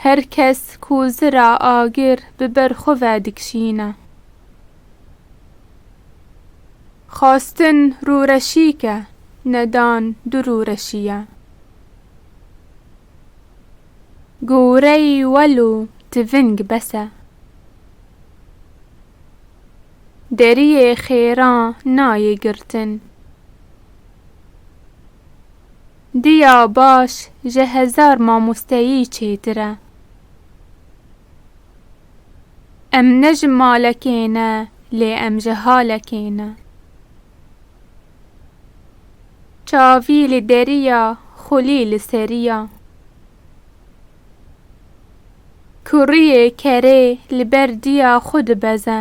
Her kes ku zira agir bi ber xwe ve dikişîne. Xwastin rûreşîk e, nedan du rûreşî ye. Goreyî wel û tiving bes e. Deriyê xêran nayê girtin. Diya baş ji hezar mamosteyî çêtir e. Em ne ji malekê ne lê em ji halekê ne. Çavî li derî ya xulî li serî ya. Kuriyê kerê li ber diya xwe dibeze.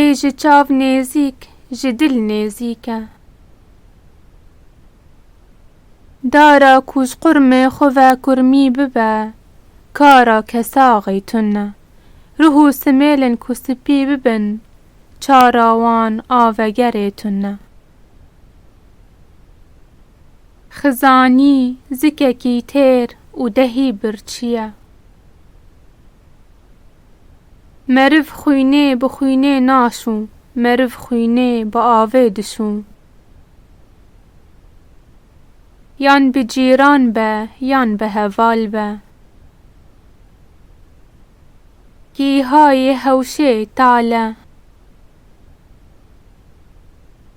Ê ji çav nêzîk ji dil nêzîk e. Dara ku ji qurmê xwe ve kurmî bibe, kara kesaxê tun e. Ruh û simêlên ku spî bibin, çara wan a vegerê tun e. Xizanî zikekî têr û dehî birçî ye. Meriv xwînê bi xwînê naşû, meriv xwînê bi avê dişû. Yan bi cîran be, yan bi heval be. Gîha yê hewşê tale.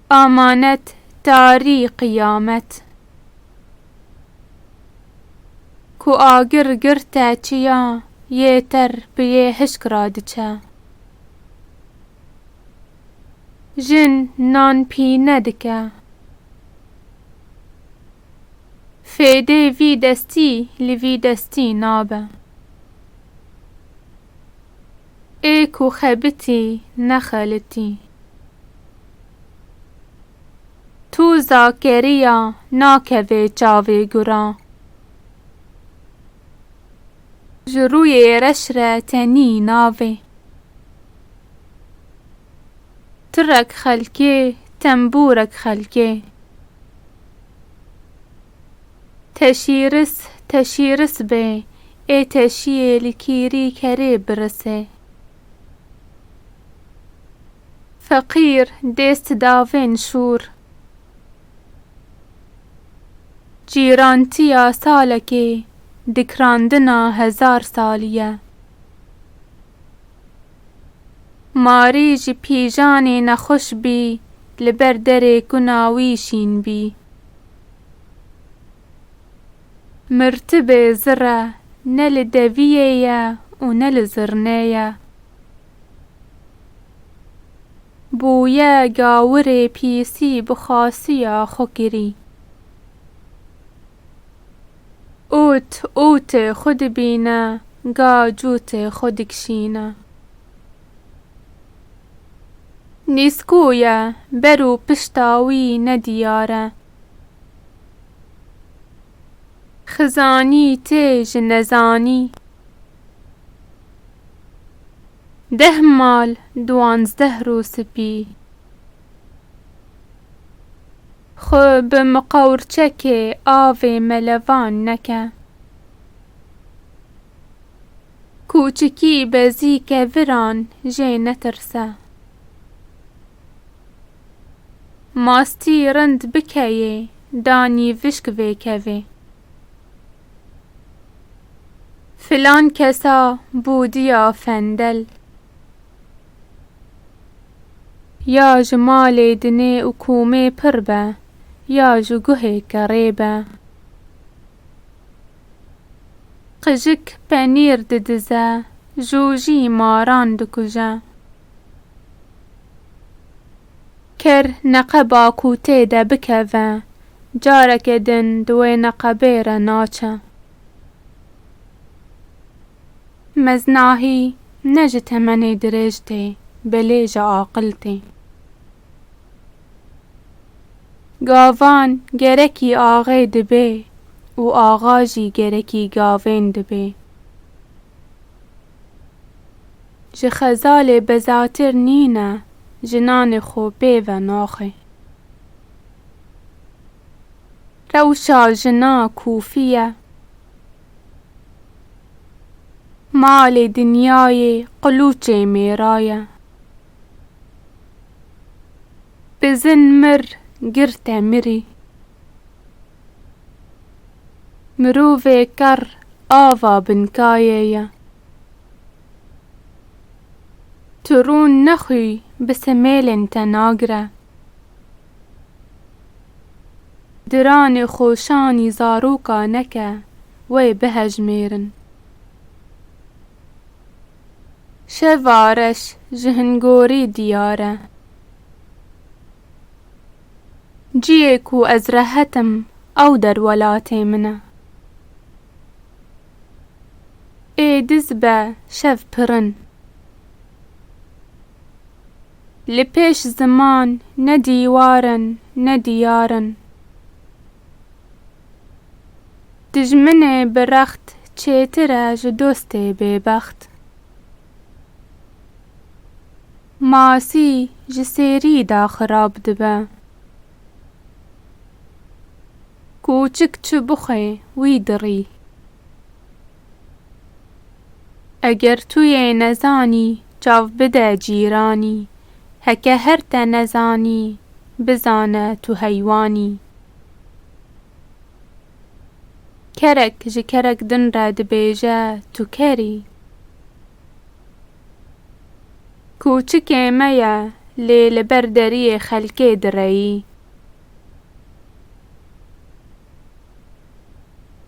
Amanet tarî qiyamet. Ku agir girte çiya yê ter bi yê hişk ra diçe. Jin nan pîne dike. Fêdê vî destî li vî destî nabe. Ê ku xebitî nexelitî. Tu Zakeriya nakevê çavê guran. Ji rûyê reş re tenî navê. Tirek xelkê, tembûrek xelkê. Teşîris, teşîris bê, ê teşîyê li kîrî kerê birisê. Feqîr dêst davên şûr. Cîrantiya salekê dikrandina hezar salî ye. Marî ji pîjanê nexweş bî li ber derê kuna wî şîn bî. Mirtibê zirre ne li deviyê ye û ne li zirnê ye. Bûye gawirê pîsî bi xasiya xwe kirî. Ût ûtê xwe dibîne, ga cûtê xwe dikişîne. Nîskûye ber û pişta wî ne diyar e. Xizanî tê ji nezanî. Deh mal duwanzdeh rû spî. Xwe bi miqewrçekê avê melevan neke. Kûçikî bezî keviran jê netirse. Mastî rind bikeyê, danî vişk vêkevê. Filan kesa bûdiya fendel. Ya ji malê dinê û komê pir be, ya ji guhê kerê be. Qijik penîr didize, jojî maran dikuje. Ker neqeba ku tê de bikeve, careke din di wê neqebê re naçe. Meznahî ne ji temenê dirêj tê, belê ji aqil tê. Gavan gerekî axê dibê û axa jî gerekî gavên dibê. Ji xezalê bezatir nîne jinanê xwe bê venaxê. Rewşa jina kûfî ye. Malê dinyayê qilûçê mêra ye. Bizin mir girte mirî. Mirovê kerr ava binkayê ye. Tu rû nexwî bi semêlên te nagire. Diranê xoşanî zaroka neke wê bihejmêrin. Şeva reş ji hingorî diyar e. Ciyê ku ez rehet im ew der welatê min e. Ê diz be şev pirin. Li pêş ziman ne dîwar in ne diyar in. Dijminê bi rext çêtir e ji dostê bêbext. Masî ji sêrî da xirab dibe. Kûçik çi bixwe wî dirî. Eger tu yê nezanî çav bide cîranî heke her te nezanî bizane tu heywanî. Kerek ji kerek din re dibêje tu kerî. Kûçikê me ye lê li ber deriyê xelkê direyî.